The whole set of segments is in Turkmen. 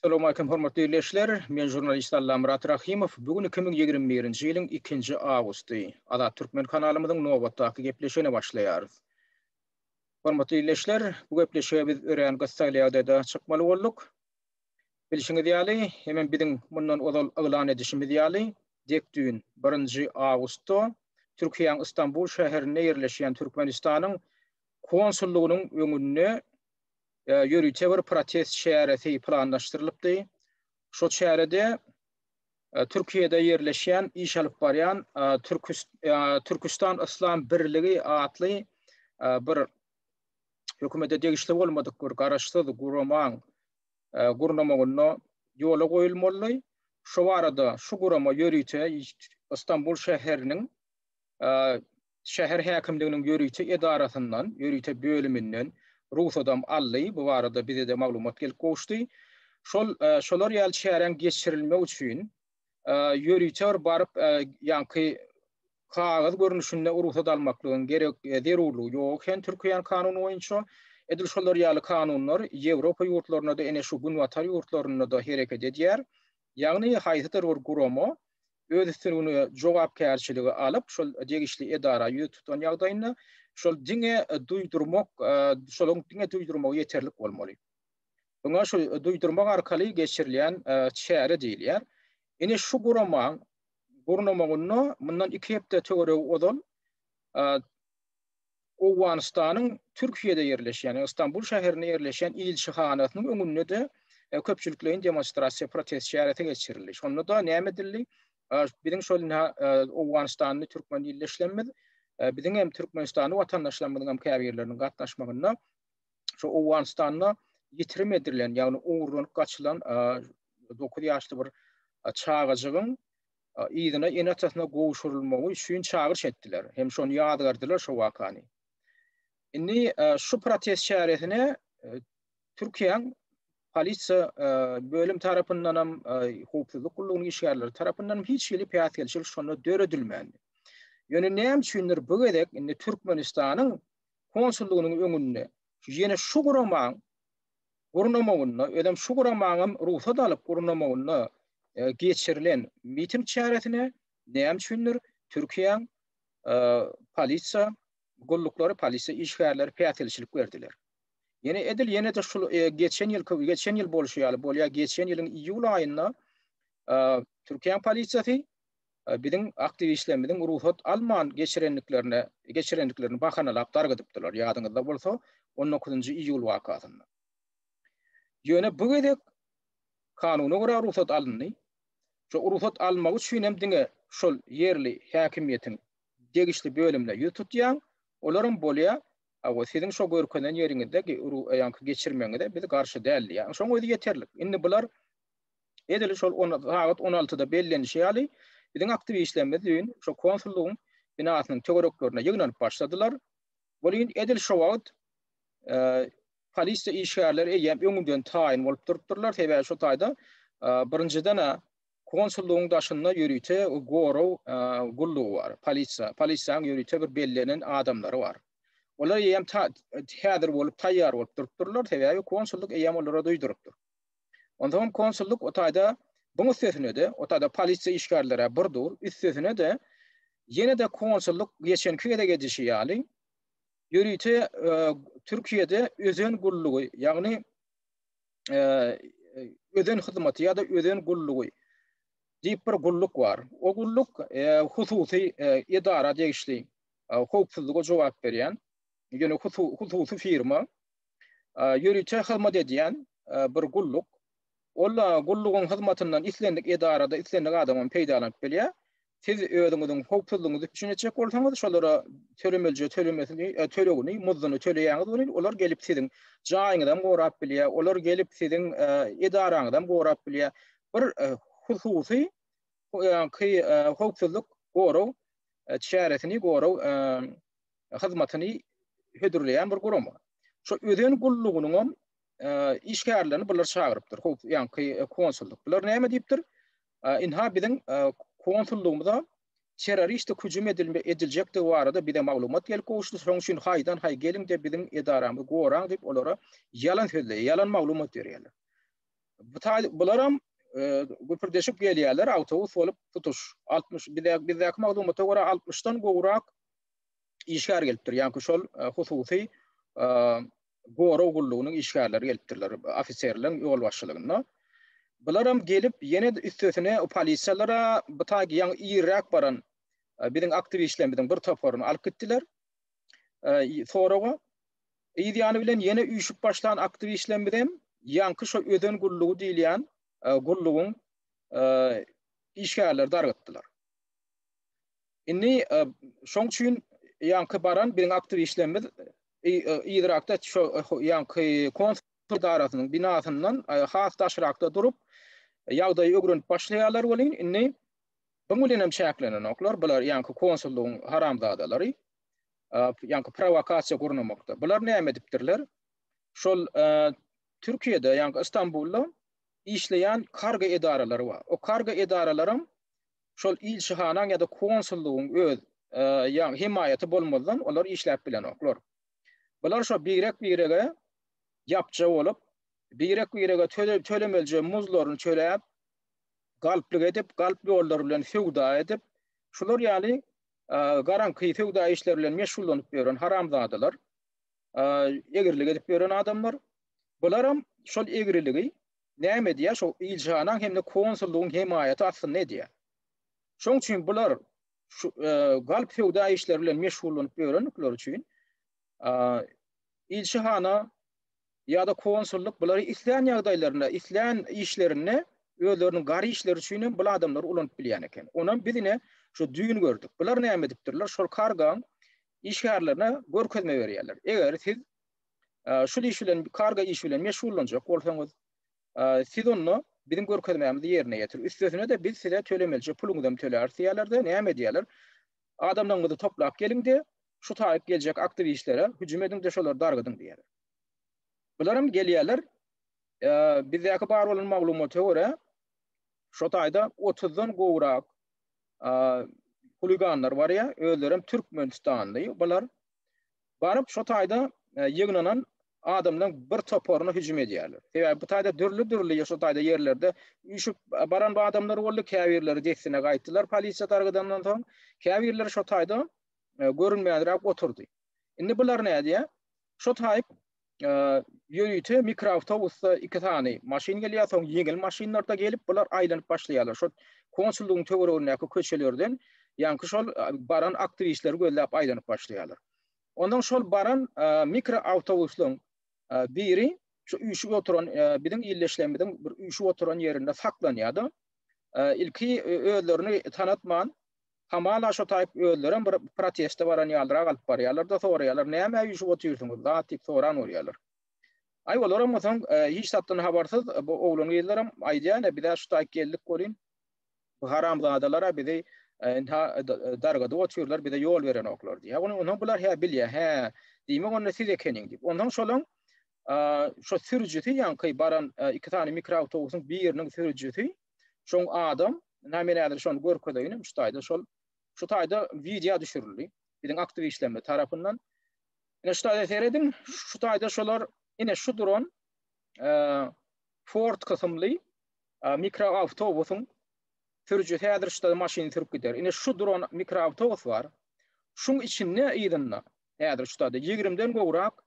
Assalamu aleykum hormatly ildeşler. Men žurnalist Allamyrat Rahymow. Bu gün 2021-nji ýylyň ikinji awgusty. Azat Türkmen kanalymyzyň nobatdaky gepleşigine başlaýarys. Hormatly ildeşler, bu gepleşige biz örän gyssagly ýagdaýda çykmaly bolduk. Bilşiňiz ýaly, hemem biziň mundan ozal yglan edişimiz ýaly, dek düýn, birinji awgustda Türkiýäň Istanbul şäherinde ýerleşýän Türkmenistanyň konsullygynyň öňünde ýörite bir protest çäresi planlaşdyrylypdy. Şo çärede Türkiýede ýerleşýän iş alyp barýan Türküstan Yslam Birligi atly bir hökümete degişli bolmadyk bir garaşsyz guramaň gurnamagynda ýola goýulmaly. Şu barada şu gurama ýörite Istanbul şäheriniň şäher häkimliginiň ýörite edarasyndan, ýörite bölüminden rugsadam aldy. Bu barada bize-de maglumat gelip gowuşdy. Şol şolar ýaly çäräň geçirilmegi üçin ýörite bir baryp, ýaňky kagyz görnüşinde rugsat almaklygyň gerek zerurlygy ýok eken Türkiýäniň kanuny boýunça. Edil şolar ýaly kanunlar Ýewropa ýurtlarynda-da, ene şu günbatar ýurtlarynda-da hereket edýär. Ýagny haýsydyr bir gurama öz üstüne jogapkärçiligi alyp, şol degişli edara ýüz tutan ýagdaýynda şol diňe duýdurmak, şonuň diňe duýdurmagy ýeterlik bolmaly. Muňa şu duýdurmak arkaly geçirilýän çäre diýilýär. Ine şu guramaň gurnamagynda mundan iki hepde töweregi ozal, Owganystanyň Türkiýede ýerleşýän, ýagny Stambul şäherinde ýerleşýän ilçihanasynyň öňünde-de köpçülikleýin demonstrasiýa, protest çäresi geçirildi. Şonda-da näme edildi? Biziň şol owganystanly türkmen ildeşlerimiz, biziň hem türkmenistanly watandaşlarymyzyň hem käbirleriniň gatnaşmagynda şu Owganystanda ýitirim edilen, ýagny ogurlanyp gaçylan dokuz ýaşly bir çagajygyň yzyna ene-atasyna gowşurylmagy üçin çagyryş etdiler hem şony ýazgardylar şu wakany. Indi e, şu protest çäresine e, Türkiýäň polisiýa e, bölüm tarapyndan hem howpsuzlyk gullugynyň işgärleri tarapyndan hem hiç hili päsgelçilik şonda döredilmändi. Ýöne näme üçindir bu gezek indi Türkmenistanyň konsullygynyň öňünde ýene şu guramanyň gurnamagynda, özem şu guramaňam rugsat alyp gurnamagynda geçirilen miting çäresine näme üçindir Türkiýäň polisiýa gulluklary, polisiýa işgärleri päsgelçilik berdiler. Ýene edil ýene-de şul geçen ýylky, geçen ýyl bolşy ýaly bolýar, geçen ýylyň iýul aýynda Türkiýäň polisiýasy biziň aktiwistlerimiziň rugsat alman geçirendiklerine geçirendiklerini bahanalap dargadypdylar. Ýadyňyzda bolsa, 19-njy iýul wakasynda. Ýöne bu gezek kanuna görä rugsat alyndy. Şu rugsat almak üçin hem diňe şol ýerli häkimiýetiň degişli bölümine ýüz tutýaň, olaryň bolýa, awa siziň şo görkezen ýeriňizde ru ýaňky geçirmegiňize biz garşy däl diýýär. Şoň özi ýeterlik. Indi bular Edil şol on, sagat on altyda bellenişi ýaly, biziň aktiwistlerimiz düýn şo konsullygyň binasynyň töwereklerine ýygnanyp başladylar. Welin, edil şo wagt polisiýa işgärleri eýýäm öňünden taýyn bolup durupdyrlar, sebäbi şo taýda birinjiden-ä konsullygyň daşynda ýörite gorag gullugy bar, polisiýa, polisiýanyň ýörite bir bellenen adamlary bar. Olar eýýäm ta, häzir bolup taýýar bolup durupdyrlar, sebäbi konsullyk eýýäm olara duýdurypdyr. Onsoňam konsullyk o taýda buň üstesine-de, o taýda polisiýa işgärleri-ä bir dur, üstesine-de ýene-de konsullyk geçenki gezek edişi ýaly ýörite Türkiýede özen gullugy, ýagny özen hyzmaty ýa-da özen gullugy diýip bir gulluk bar. O gulluk hususy edara degişli, howpsuzlyga jogap berýän, ýöne hususy firma. ýörite hyzmat edýän bir gulluk. Ol gullugyň hyzmatyndan islendik edarada islendik adam hem peýdalanyp bilýär. Siz özüňiziň howpsuzlygyňyzy üpjün etjek bolsaňyz, şolara tölemelije tölemesini, tölegini, muzduny töleýäňiz welin, olar gelip siziň jaýyňyzy hem gorap bilýär, olar gelip siziň edaraňyzy hem gorap bilýär. Bir hususy howpsuzlyk goraw çäresini, goraw hyzmatyny hödürleýän bir gurama. Şu özen gullugynyň hem işgärlerini bular çagyrypdyr. Hop, ýaňky konsullyk. Bular näme diýipdir? Inha biziň konsullygymyza terroristik hüjüm edilme ediljekdigi barada bize maglumat gelip gowuşdy. Şoň üçin haýdan haý geliň diýip biziň edaramyzy goraň diýip olara ýalan sözle, ýalan maglumat berýärler. Bu taý bular hem güpürdeşip gelýärler, awtobus bolup tutuş 60 bize bizdäki maglumata görä 60-dan gowrak işgär gelipdir. Ýa-da şol hususy gorag gullugynyň işgärleri gelipdirler, ofiserleriň ýolbaşçylygynda. Bular hem gelip, ýene üstesine polisiýalara bu taýy ýaňy irräk baran biziň aktiwistlerimiziň bir toparyny alyp gitdiler. Soraga yz ýany bilen ýene üýşüp başlan aktiwistlerimiz hem ýaňky şo öden gullugy diýilýän gullugyň işgärleri dargatdylar. Indi şoň üçin ýaňky baran biziň aktiw işlerimiz yzrakda şu ýaňky konsul edarasynyň binasyndan has daşrakda durup, ýagdaýy öwrenip başlaýarlar welin, indi bu bilen hem çäklenenoklar. Bular ýaňky konsullygyň haramzadalary. Ýaňky prowokasiýa gurnamakda. Bular näme edipdirler? Şol Türkiýede, ýaňky Istanbulda işleýän kargo edaralary bar. O kargo edaralaram şol ilçihanaň ýa-da konsullygyň öz ýa hemaýaty bolmazdan olar işläp bilenoklar. Bular şo birek-birege ýapja bolup, birek-birege tölemelije muzlaryny töläp, galplyk edip, galp ýollar bilen söwda edip, şular ýaly garaňky söwda işleri bilen meşgullanyp ýören haramzadalar, egrilik edip ýören adamlar. Bularam şol egriligi näme edýär, şo ilçihanaň hem-de konsullygyň hemaýaty astynda edýär. Şoň üçin bular şu galp söwda işleri bilen meşgullanyp ýörendikleri üçin ilçihana ýa-da konsullyk bulary islän ýagdaýlarynda, islän işlerinde özleriniň gar işleri üçin hem bul adamlary ulanyp bilýän eken. Onam biz ine şu düýn gördük. Bular näme edipdirler? Şol kargaň işgärlerine görkezme berýärler. Eger siz şul iş bilen, kargo işi bilen meşgullanjak bolsaňyz, siz onda biziň görkezmämizi ýerine ýetir. Üstesine-de biz size tölemelije puluňyzy hem töläris diýýärler-de, näme edýärler? Adamlaryňyzy toplap geliň-de, şu taýyp geljek aktiwistlere hüjüm ediň-de, şolary dargadyň diýýärler. Bular hem gelýärler, bizdäki bar bolan maglumata görä, şo taýda otuzdan gowrak huliganlar barýar, özleri hem türkmenistanly bular. Baryp şo taýda ýygnanan adamlaryň bir toparyna hüjüm edýärler. Sebäbi bu taýda dürli-dürli şo taýda ýerlerde üýşüp baran bu adamlar boldy. Käbirleri dessine gaýtdylar polisiýa dargadandan soň. Käbirleri şo taýda görünmänräk oturdy. Indi bular nädýär? Şo taýyp ýörite mikroawtobusda iki sany maşyn gelýär, soň ýeňil maşynlarda gelip bular aýlanyp başlaýarlar. Şol konsullygyň töweregindäki köçelerden ýaňky şol baran aktiwistleri gözläp aýlanyp başlaýarlar. Ondan şol baran mikroawtobuslaryň biri şu üýşüp oturan biziň ýerleşýänimiziň bir üýşüp oturan ýerinde saklanýar-da. Ilki özlerini tanatman Hamala şo taýyp özlerem bir proteste baran ýalyrak alyp barýarlar-da, soraýarlar, nämä üýşüp otyrsyňyz, zat diýip soran bolýarlar. Aý, olaram o soň hiç zatdan habarsyz, bu oglan-gyzlaram aýdýar, ine, biz-ä şu taýyp geldik welin, bu haramzadalar-a bizi ynha dargadyp otyrlar, bize ýol berenoklar diýýär. Ony onsoň bular hä bilýär, hä, diýmek onda siz ekeniň diýip. Onsoň şolaň şo sürüjisi, ýaňky baran iki sany mikroawtobusyň biriniň sürüjisi, Şoň adam, na men häzir şony görkezeýin, şu taýda şol şu taýda wideo düşürildi. Biziň aktiwistlerimiz tarapyndan. Ine şu taýda serediň, şu taýda şolar ine şu duran Ford kysymly mikroawtobusyň sürüji häzir şu maşyny sürüp gider. Ine şu duran mikroawtobus bar. Şuň içinde ýerinde häzir şu taýda 20-den gowrak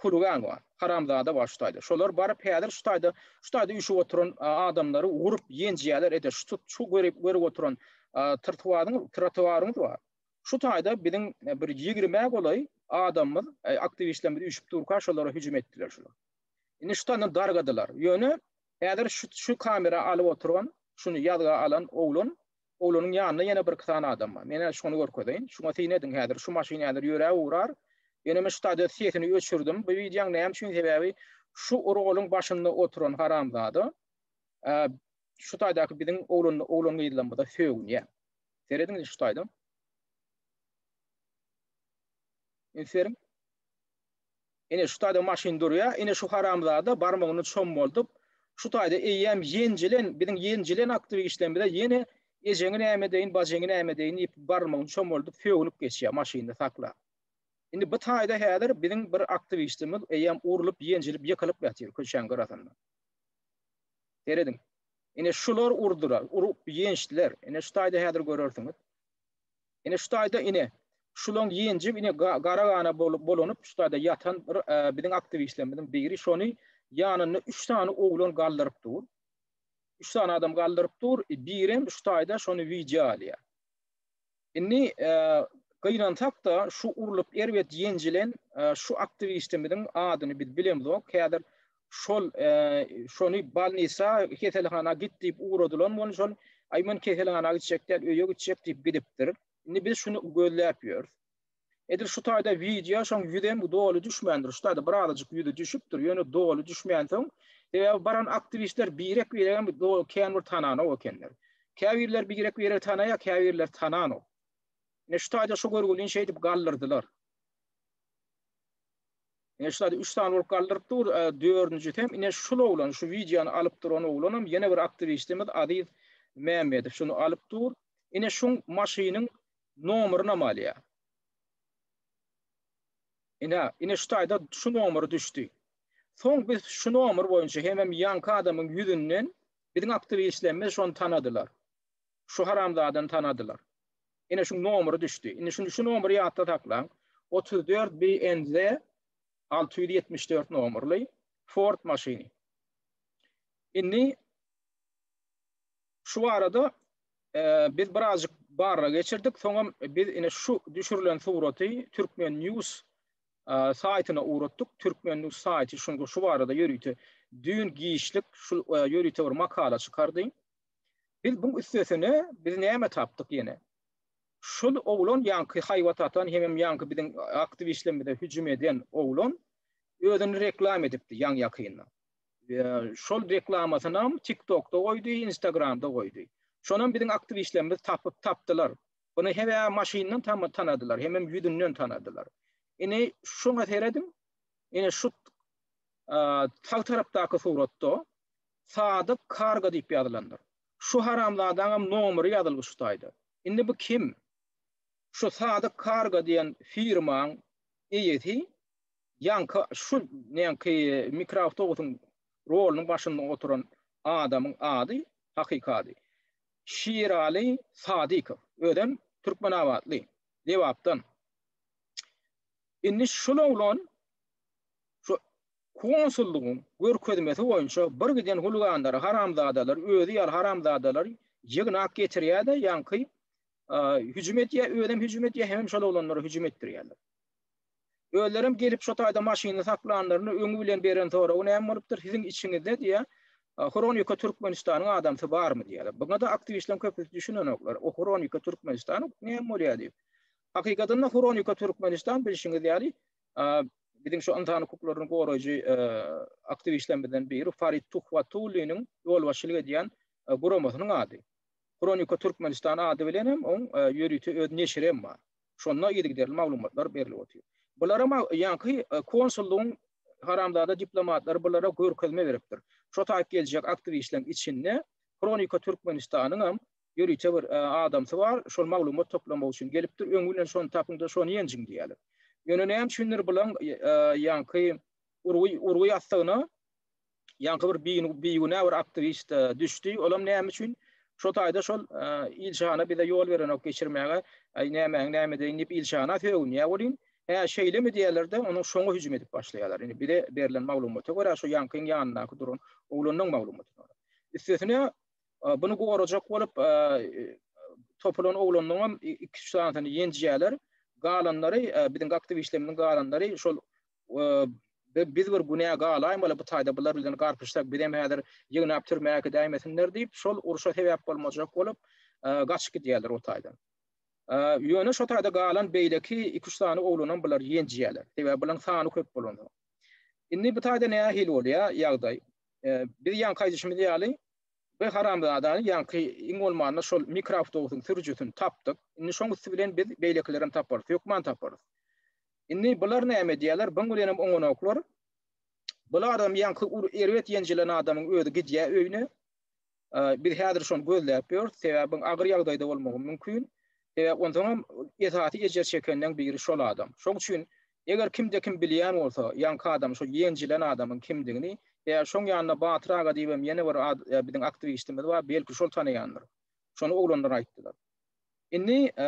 huligan bar, haramzada bar şu taýda. Şolar baryp häzir şu taýda, şu taýda üýşüp oturan adamlary urup ýenjeýärler, ede şu tut, şu görip, görip oturan trtuaryň, trotuaryňyz bar. Şu taýda biziň bir ýigrimä golaý adamymyz, aktiwistlerimiz üýşüp durka şolara hüjüm etdiler şular. Indi şu taýdan dargadylar. Ýöne häzir şu şu kamera alyp oturan, şuny ýazga alan oglan Oglanyň ýanynda ýene birki sany adam bar. Men hä şony görkezeýin. Şuňa syn ediň häzir, şu maşyn häzir ýöräp ugrar. Ýöne men şu stadiýada sesini öçürdim. Bu wideoň näme üçin sebäbi şu orgalyň başynda oturan haramzada şu taýdaky biziň oglan oglan gyzlarymyza sögünýär. Serediň şu taýda. Üns beriň. Ine, şu taýda maşyn durýar. Ine, şu haramzada barmagyny çommaldyp, şu taýda eýýäm ýenjilen, biziň ýenjilen aktiwişlerimize ýene ejeňi näme edeýin, bajyňy näme edeýin diýip, barmagyny çommaldyp, sögünip geçýär maşynyny saklap. Indi bu taýda häzir biziň bir aktiwişimiz eýýäm urlup, ýenjilip, ýykylyp ýatyr köçäň gyrasynda. Serediň. Ine, şular urdular, urup ýençdiler. Ine, şu taýda häzir görersiňiz. Ine şu taýda ine şulaň ýenjip ine gara gana bolanyp şu taýda ýatan bir biziň aktiwistlerimiziň biri şony ýanynda 3 sany oglan galdyryp dur. 3 sany adam galdyryp dur. E, birem şu taýda şony wideo alýar. Indi e, gynansak da şu urlup erbet ýenjilen e, şu aktiwistimiziň adyny biz bilemzok. Häzir şol şony balnisa keselhana git diýip ugradylan bolup şol aý men keselhana gitjek däl öýe gitjek diýip gidipdir. Indi biz şuny gözläp ýörüs. Edil şu taýda wideo şoň ýüzem doly düşmändir. Şu taýda birazajyk ýüzi düşüpdir. Ýöne doly düşmän soň sebäbi baran aktiwistler birek birek hem doly kän bir tananok ekenler. Käbirler birek birek tanaýar, käbirler tananok. Ne şu taýda şu görgüliň şeýdip galdyrdylar. Ine şu üç sany bolup galdyryp dur. Dördünjisi hem ine şul oglan, şu wideony alyp duran oglanam ýene bir aktiwistimiz Aziz Mämmedow şuny alyp dur. Ine şuň maşynyň nomerynam alýar. Ine, ine şu taýda şu nomer düşdi. Soň biz şu nomer boýunça hemem ýanky adamyň ýüzünden biziň aktiwistlerimiz şony tanadylar. Şu haramzadany tanadylar. Ine şuň nomeri düşdi. Indi şuny şu nomeri ýatda saklaň. 34 BNZ 674 nomerli Ford maşyny. Indi şu arada e, biz birazcık barra geçirdik. Soňam biz ine şu düşürilen suraty Türkmen News e, saýtyna uğratdyk. Türkmen News saýty şuňa şu barada ýörite düýn giçlik şu e, ýörite bir makala çykardy. Biz buň üstesine biz näme tapdyk ýene? Şul oglan ýaňky haýbat atan hemem ýaňky biziň aktiw işlerimize hüjüm eden oglan özüni reklam edipdi ýaň ýakynda. Şol reklamasyny hem TikTokda goýdy, Instagramda goýdy. Şonam biziň aktiw işlerimiz tapyp tapdylar. Bunu hebe maşyndan tam tanadylar, hemem ýüzünden tanadylar. Ini şoňa seredin, ini şu sag tarapdaky suratda Sadyk karga diýip ýazylandyr. Şu haramzadaňam nomeri ýazylgy şu saýda. Indi bu kim? Şu Sadyk karga diýen firmaň eýesi ýaňky şu näňki mikroawtobusyň rolunyň başynda oturan adamyň ady hakyky ady Şiraly Sadykow. Özem türkmenabatly, Lebapdan. Indi şul oglan şu Konsullygyň görkezmesi boýunça bir giden hulgandary haramzadalar özi ýaly haramzadalar ýygnap getirýärde ýaňky hüjüm edýär özem hüjüm edýär hemem şol oglanlara hüjüm etdirýärler. Özlerem gelip şo taýda maşynyny saklanlaryny öňi bilen beren soragy näme bolupdyr siziň içiňizde diýä Hronika Türkmenistanyň adamsy barmy diýýärler. Buňa da aktiwistleriň köpüsi düşünenoklar. O Hronika Türkmenistan näme bolýar diýip. Hakykatynda Hronika Türkmenistan bilşiňiz ýaly biziň şu ynsan hukuklaryny goraýjy aktiwistlerimizden biri Farid Tuhwatulliniň ýolbaşçylyk edýän guramasynyň ady. Kronika Türkmenistan ady bilen hem oň ýörite öz neşiri hem bar. Şonda yzygiderli maglumatlar berilip otyr. Bulara ýaňky konsullygyň haramzada diplomatlary bulara görkezme beripdir. Şo taýyp geljek aktiwistleriň içinde Kronika Türkmenistanyň hem ýörite bir adamsy bar, şol maglumat toplamak üçin gelipdir, öň bilen şony tapyň-da, şony ýenjiň diýýärler. Ýöne näme üçindir bulaň ýaňky urgy ýassygyna ýaňky bir bigünä bir aktiwist düşdi, olam näme üçin şo taýda şol ilçihana bize ýol berenok geçirmäge, aý nämäň nämedeýin diýip ilçihana sögünýär welin, hä şeýlemi diýýärler-de, onuň şoňa hüjüm edip başlaýarlar. Indi bize berlen maglumata görä, şo ýaňkyň ýanyndaky duran oglanyň maglumatyna görä. Üstesine, Buny gorajak bolup, topulan oglanlaryňam iki-üç sanysyny ýenjýärler. Galanlary, biziň gakdybişlerimiziň galanlary şol biz bir günä galaýmaly bu taýda bular bilen garpyşsak bizem häzir ýygnap türmä äkidäýmesinler diýip, şol urşa sebäp bolmajak bolup, gaçyp gidýärler o taýdan. Ýöne şo taýda galan beýleki iki-üç sany oglanam bular ýenjýärler. Sebäbi bularyň sany köp bolansoň. Indi bu taýda nähili bolýar ýagdaý? Biz ýaňky aýdyşymyz ýaly, Bi haramzadany ýaňky iň bolmanda şol mikroawtobusyň sürüjisini tapdyk. Indi şoň üsti bilen biz beýlekilerem taparys. Hökman taparys. Indi bular näme edýärler? Buň bilenem oňanoklar. Bulardan ýaňky ur erbet ýenjilen adamyň özi gidýär öýüne. Biz häzir şony gözläp ýörüs. Sebäbi buň agyr ýagdaýda bolmagy mümkin. Sebäbi onsoňam esasy ejir çekenleň biri şol adam. Şoň üçin Eger kimde-kim bilýän bolsa, ýaňky adam şo ýenjilen adamyň kimdigini, e, şoň ýanynda Batyr aga diýibem ýene bir ad, e, biziň aktiwistimiz bar, belki şol tanaýandyr. Şony oglanlar aýtdylar. Indi, e,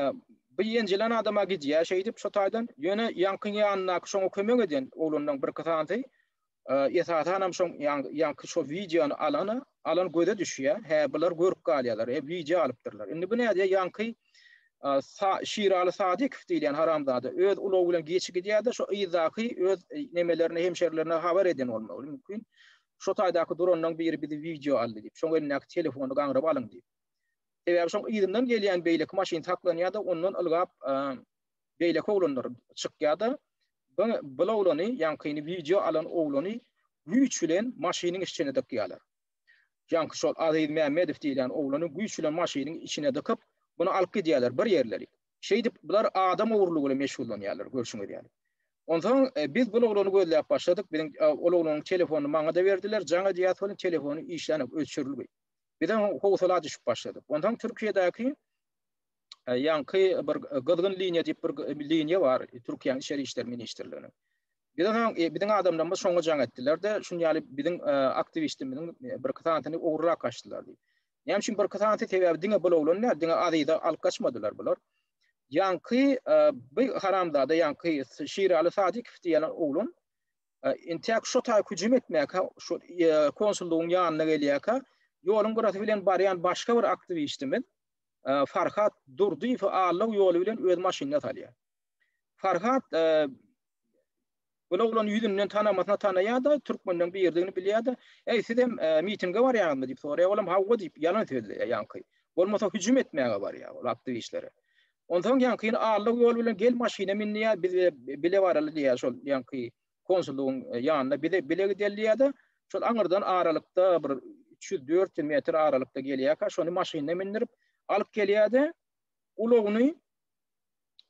bu ýenjilen adam-a gidýär şeýdip şo taýdan, ýöne ýaňkyň ýanyndaky şoňa kömek eden oglanlaryň birki sanysy esasanam şoň ýaňky şo wideony alana alan göze düşýär hä bular görüp galýarlar e wideo alypdyrlar indi bu nädýär ýaňky Şiraly Sadykow diýilýän haramzada öz ulagy bilen geçi gidýärdi şo yzdaky öz e, nemelerine hemşerilerine habar eden bolmaly mümkin şo taýdaky duranlaryň biri bizi wideo aldy diýip şoň elindäki telefony gaňryp alyň diýip sebäbi şoň yzyndan gelýän beýleki maşyn saklanýarda ondan ylgap beýleki oglanlar çykýar-da, bu oglany, ýaňkyny wideo alan oglany güýç bilen maşynyň işçine dykýarlar. Ýaňky şol Aziz Mämmedow diýilýän oglany güýç bilen maşynyň içine dykyp, muny alyp gidýärler bir ýerleri. Şeýdip, bular adam ogurlygy bilen meşgullanýarlar, görşüňiz ýaly. Onsoň biz bu oglany gözläp başladyk, biziň ol oglanyň telefonyny maňa-da berdiler, jaň edýäs welin telefony işlänok, öçürilgi. Bizem howsala düşüp başladyk. Onsoň Türkiýedäki ýaňky bir gyzgyn liniýa diýip bir liniýa bar Türkiýäniň içeri işler ministrliginiň. Biz onuň e, biziň adamlarymyz şoňa jaň etdiler-de, şuň ýaly biziň e, aktiwistimiziň e, bir kysanyny ogurlap kaçdylar diýip. Näme üçin bir kysany sebäbi diňe bul oglanlar, diňe azyza alyp kaçmadylar bular. Ýaňky bir haramzada ýaňky Şiraly Sadikow diýen oglan intäk şu taý hüjüm etmäkä, şu konsullugyň ýanyna gelýärkä, ýoluň gyrasy bilen barýan başga bir aktiwistimiz Farhat Durdyýewi allag ýoly bilen öz maşynyna salýar. Farhat Ol oglan ýüzünden tanamasyna tanaýar-da, türkmenden birdigini bilýär-de, "Eý, siz hem e, mitinge barýaňyzmy?" diýip soraýar. Olam "Hawa" diýip ýalan sözleýär ýaňky. Bolmasa hüjüm etmäge barýar ol aktiwistlere. Onsoň ýaňky ýene Allah ýol bilen gel maşyna min diýýär, biz bile baraly diýýär şol ýaňky konsullygyň ýanyna bize bile gidelýärdi. Şol aňyrdan aralykda bir üç ýüz, dört ýüz metr aralykda gelýärkä, şony maşynyna mindirip, alyp gelýärdi. Ulagyny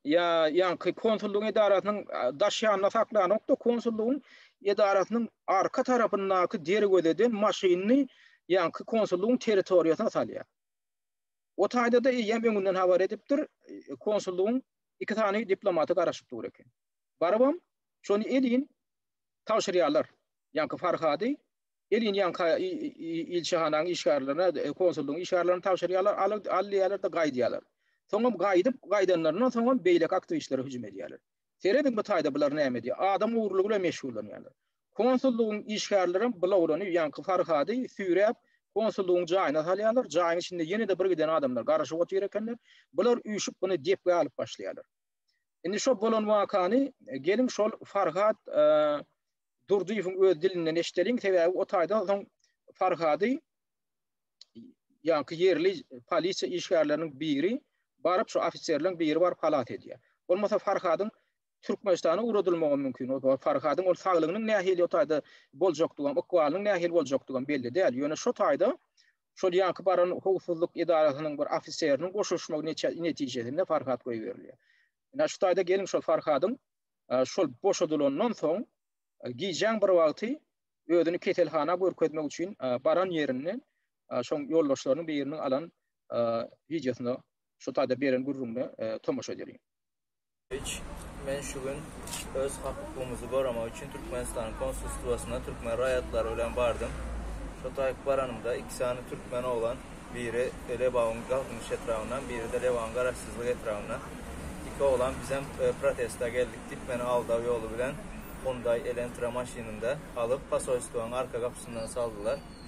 ýa ýaňky konsullygyň edarasynyň daş ýanynda saklanokdy, konsullygyň edarasynyň arka tarapyndaky derwezeden maşynyny ýaňky konsullygyň territoriýasyna salýar. O taýda-da eýýäm öňünden habar edipdir, konsullygyň iki sany diplomaty garaşyp dur eken. Barybam şony elin tabşyrýarlar. Ýaňky Farhady elin ýaňka ilçihanaň işgärlerine, konsullygyň işgärlerine tabşyrýarlar, al, al diýýärler-de gaýdýarlar. Soňam gaýdyp, gaýdanlaryndan soňam beýleki aktiwistlere hüjüm edýärler. Serediň bu taýda bular näme edýär? Adam ogurlygy bilen meşgullanýarlar. Konsullygyň işgärlerem bulawlanyp, ýaňky Farhady süýräp, konsullygyň jaýyna salýarlar, jaýyň içinde ýene-de birgiden adamlar garaşyp otyr ekenler. Bular üýşüp, muny depgä alyp başlaýarlar. Indi şo bolan wakany geliň şol Farhat Durdyýewiň öz dilinden eşideliň, sebäbi o taýdan soň Farhady ýaňky ýerli polisiýa işgärleriniň biri baryp şu ofiserleriň biri baryp halas edýär. Bolmasa Farhadyň Türkmenistana ugradylmagy mümkin. O Farhadyň ol saglygynyň nähili o taýda boljakdygy, ykbalynyň nähili boljakdygy belli däl. Ýöne şo taýda Şol ýaňky baran howpsuzlyk edarasynyň bir ofiseriniň goşulyşmagy netijesinde Farhat goýberilýär. Ine, şu taýda geliň şol Farhadyň şol boşadylandan soň gijäň bir wagty özüni keselhana görkezmek üçin baran ýerinde şoň ýoldaşlarynyň biriniň alan wideosyna şu taýda beren gürrüňine tomaşa edeliň. Iç, men şu gün öz hak-hukugymyzy goramak üçin Türkmenistanyň konsulstwasyna türkmen raýatlary bilen bardym. Şo taýyp baranymda, iki sany türkmen oglan, biri Lebabyň Galkynyş etrabyndan, biri-de Lebabyň Garaşsyzlyk etrabyndan, iki oglan bizem protesta geldik diýip, meni aldaw ýoly bilen Hyundai Elentra maşynynda alyp, pasolstwonyň arka gapysyndan saldylar.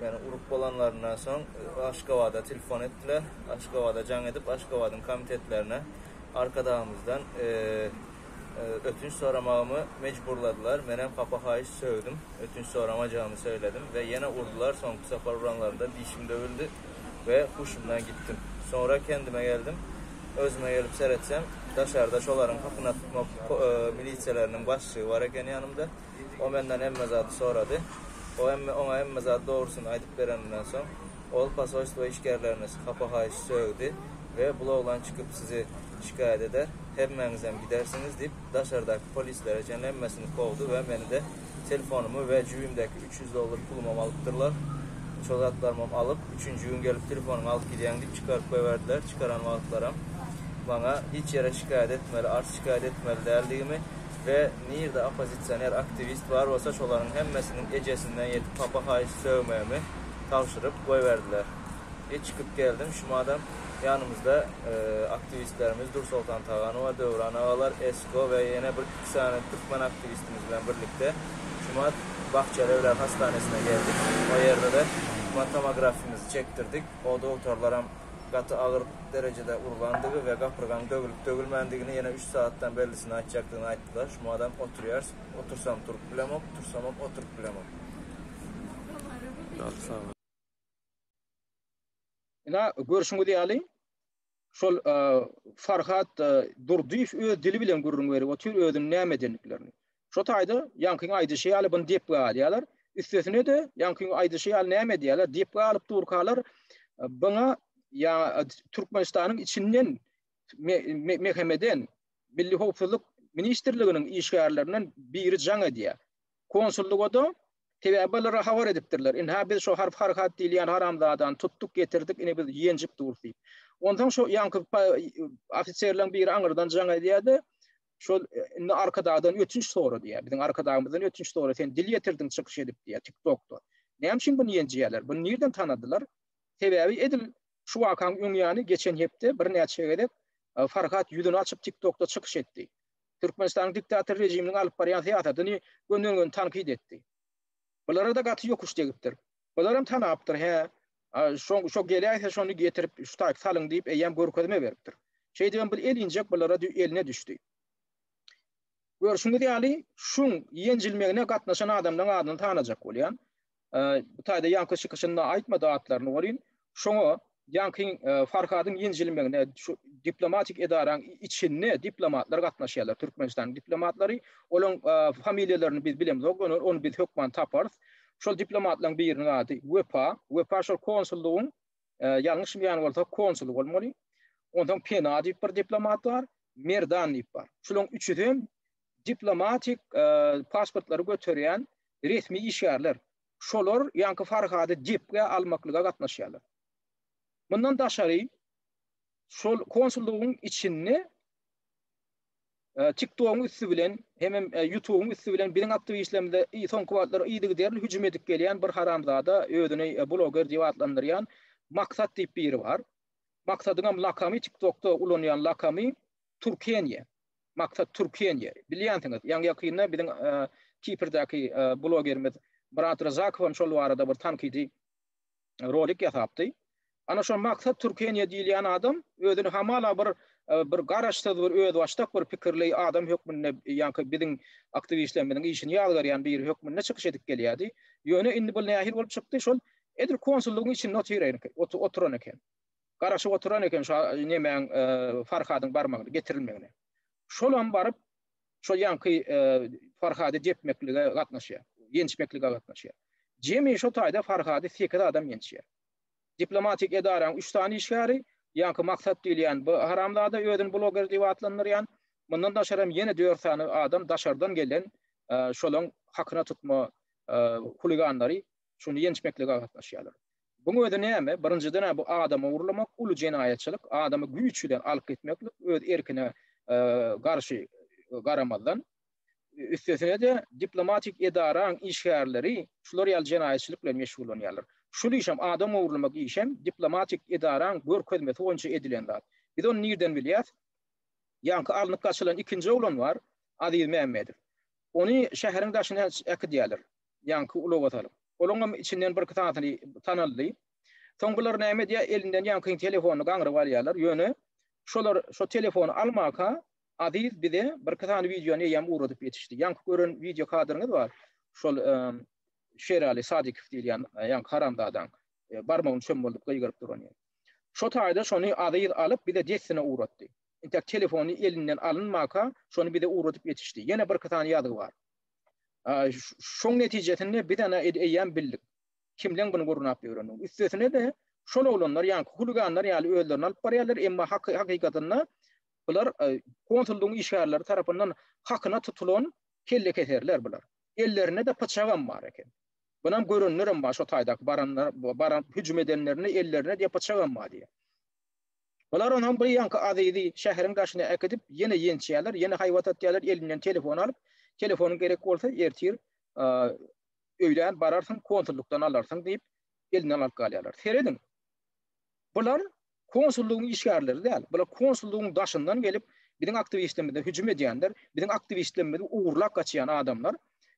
Ýöne urup bolanlaryndan soň Aşgabada telefon etdiler. Aşgabada jaň edip, Aşgabadyň komitetlerine Arkadagymyzdan ötünç soramagymy mejburladylar. Menem hapa-haýyş sögdüm. Ötünç soramajagymy söyledim we ýene urdular. Soňky sapar uranlarynda dişim döwüldi we huşumdan gitdim. Soňra kendime geldim. Özüme gelip seretsem, daşarda şolaryň hakyna tutmak milisiýalarynyn başlygy bar eken ýanymda. O menden hemme zady sorady. O hemme oňa hemme zady dogrusyny aýdyp bereninden soň, ol posolstwo işgärlerini hapa-haýyş sögdi we bul oglan çykyp sizi şikaýat eder, hemmäňizem gidersiňiz diýip, daşardaky polislere çenli hemmesini kowdy we meni-de, telefonymy we jübimdäki üç ýüz dollar pulumam alypdyrlar. Şol zatlarymam alyp, üçünji gün gelip telefonyňy alyp gidýäň diýip çykaryp goýberdiler. Çykaran wagtlaram maňa hiç ýere şikaýat etmeli, arz-şikaýat etmeli däldigimi, we nirde oppozisioner aktiwist bar bolsa şolaryň hemmesiniň ejesinden ýetip hapa haýyş sögmegimi tabşyryp goýberdiler. I çykyp geldim şumadam ýanymyzda aktiwistlerimiz Dursoltan Taganowa, Döwran agalar, Esko we ýene bir iki sany türkmen aktiwistimiz bilen birlikde şumat Bahçelievler hassanesine geldik o ýerde-de şumat tomografimizi çekdirdik o dogtorlaram gaty agyr derejede urlandygy we gapyrgaň döwülip-döwülmändigini ýene üç sagatdan bellisini aýtjakdygyny aýtdylar. Şu madam oturýarys, otursam turup bilemok, tursamam oturyp bilemok. Ýaly sagat. Ina, görşüňiz ýaly, şol Farhat Durdyýew öz dili bilen gürrüň berip otyr özüniň näme edendiklerini. Şo taýda ýaňkyň aýdyşy ýaly buny depgä alýarlar. Üstesine-de ýaňkyň aýdyşy ýaly näme edýärler? Depgä alyp durkalar buňa ýa Türkmenistanyň içinden MHM-den Milli howpsuzlyk ministrliginiň işgärlerinden biri jaň edýär. Konsullyga-da sebäbi olara habar edipdirler. Indi ha biz şo Harp Harhat diýilýän haramzadany tutduk, getirdik, indi biz ýenjip durus diýip. Onsoň şo ýaňky ofiserleriň biri aňyrdan jaň edýär-de, şol e, indi arkadagdan ötünç sorady ya. Biziň arkadagymyzdan ötünç sorady. Sen dil ýetirdiň çykyş edip diýýär TikTokda. Näme üçin bunu ýenjeýärler? Bunu nirden tanadylar? Sebäbi edil şu wakaň öň ýany geçen hepde birnäçe gezek e, Farhat ýüzüni açyp TikTokda çykyş etdi. Türkmenistanyň diktator rejiminiň alyp barýan syýasatyny gönden-göni tankyt etdi. Bulara da gaty ýokuş degipdir. Bular hem tanapdyr, hä? Şo şo geläýse şony getirip ştaýk salyň diýip eýýäm görkezme beripdir. Şeýdibem bir el injek bulara eline düşdi. Görşüňiz ýaly şuň ýenjilmegine gatnaşan adamlaryň adyny tanajak bolýan. Bu taýda ýaňky çykyşynda aýtmady atlaryny welin şoňa ýaňky Farhadyň ýenjilmegine şu diplomatik edaraň içinde diplomatlar gatnaşýarlar. Türkmenistanyň diplomatlary olaryň familiýalaryny biz bilemzok, ony biz hökman taparys. Şol diplomatlaryň biriniň ady Wepa. Wepa şol konsullygyň, ýalňyşmaýan bolsa, konsuly bolmaly. Onsoň Pena diýip bir diplomat bar, Merdan diýip bar. Şularyň üçüsi hem diplomatik pasportlary göterýän resmi işgärler. Şolar ýaňky Farhady depgä almaklyga gatnaşýarlar. Mundan daşary, şol konsullygyň içinde TikTok-yň üsti bilen hemem YouTube-yň üsti bilen biziň aktiwistlerimize soňky wagtlar yzygiderli hüjüm edip gelýän bir haramzada özüni bloger diýip atlandyrýan Maksat diýip biri bar. Maksadyňam lakamy TikTok-da ulanýan lakamy Türkenýe. Maksat Türkenýe. Bilýänsiňiz, ýaňy-ýakynda biziň Kiprdaky blogerimiz Myrat Ryzakowam şol barada bir tankydy rolik ýasapdy. Ana şo Maksat Türkeniýe diýilýän adam özüni hamala bir bir garaşsyz bir özbaşdak bir pikirli adam hökmünde ýaňky biziň aktiwistlerimiziň işini ýazgarýan biri hökmünde çykyş edip gelýärdi. Ýöne indi bu nähili bolup çykdy şol edil konsullygyň içinde otyran oturan eken. Garaşyp oturan eken şo nemäň Farhadyň barmagyny getirilmegine. Şolam baryp şol ýaňky Farhady depmeklige gatnaşýar, ýençmeklige gatnaşýar. Jemi şu taýda Farhady sekiz adam ýençýär. Diplomatik edaranyň üç sany işgäri, ýaňky Maksat diýilýän bu haramzada özüni bloger diýip atlandyrýan, mundan daşary hem ýene dört sany adam daşardan gelen şolaň hakyna tutma huliganlary şuny ýençmeklige gatnaşýarlar. Buň özi näme? Birinjiden-ä bu adamy urlamak uly jenaýatçylyk, adamy güýç bilen alyp gitmeklik öz erkine garşy garamazdan. Üstesine-de diplomatik edaraň işgärleri şular ýaly jenaýatçylyk bilen meşgullanýarlar. Şul işem adam ogurlamak işem diplomatik edaraň görkezmesi boýunça edilen zat. Biz ony nirden bilýäs? Ýaňky alnyp gaçylan ikinji oglan bar, Aziz Mämmedow. Ony şäheriň daşyna äkidýärler. ýaňky ulaga salyp. Olaňam içinden birki sanysyny tanaldy. Soň bular näme edýär, elinden ýaňkyň telefonyny gaňryp alýarlar, ýöne şolar şo telefony almaka Aziz bize birki sany wideony eýýäm ugradyp ýetişdi. Ýaňky gören wideo kadryňyz bar, şol Şerali Sadikow diýilýän ýaňky haramzadaň barmagyny çöm boldup gygyryp durany. Şo taýda şony Aziz alyp bize dessine ugratdy. Intäk telefony elinden alynmaka şony bize ugradyp ýetişdi. Ýene birki sany ýazgy bar. Şoň netijesinde biz ana eýýäm bildik. Kimleň bunu gurnap ýörenini. Üstesine-de şol oglanlar ýaňky huliganlar ýaly özlerini alyp barýarlar, emma hakykatynda bular konsullygyň işgärleri tarapyndan hakyna tutulan kellekeserler bular. Ellerinde-de pyçagam bar eken. Bunam görenlerem bar şo taýdaky baranlar, baran hüjüm edenlerinde ellerinde diýe pyçagam bar diýýär. Bular onuň bir ýanky Azizi şäheriň daşyna äkidip, ýene ýençýärler, ýene haýbat atýarlar, elinden telefon alyp, telefonyň gerek bolsa, ertir öýlän bararsyň, konsullykdan alarsyň diýip, elinden alyp galýarlar. Serediň, bular konsullygyň işgärleri däl, bular konsullygyň daşyndan gelip, biziň aktiwistlerimize hüjüm edýänler, biziň aktiwistlerimizi ogurlap gaçýan adamlar,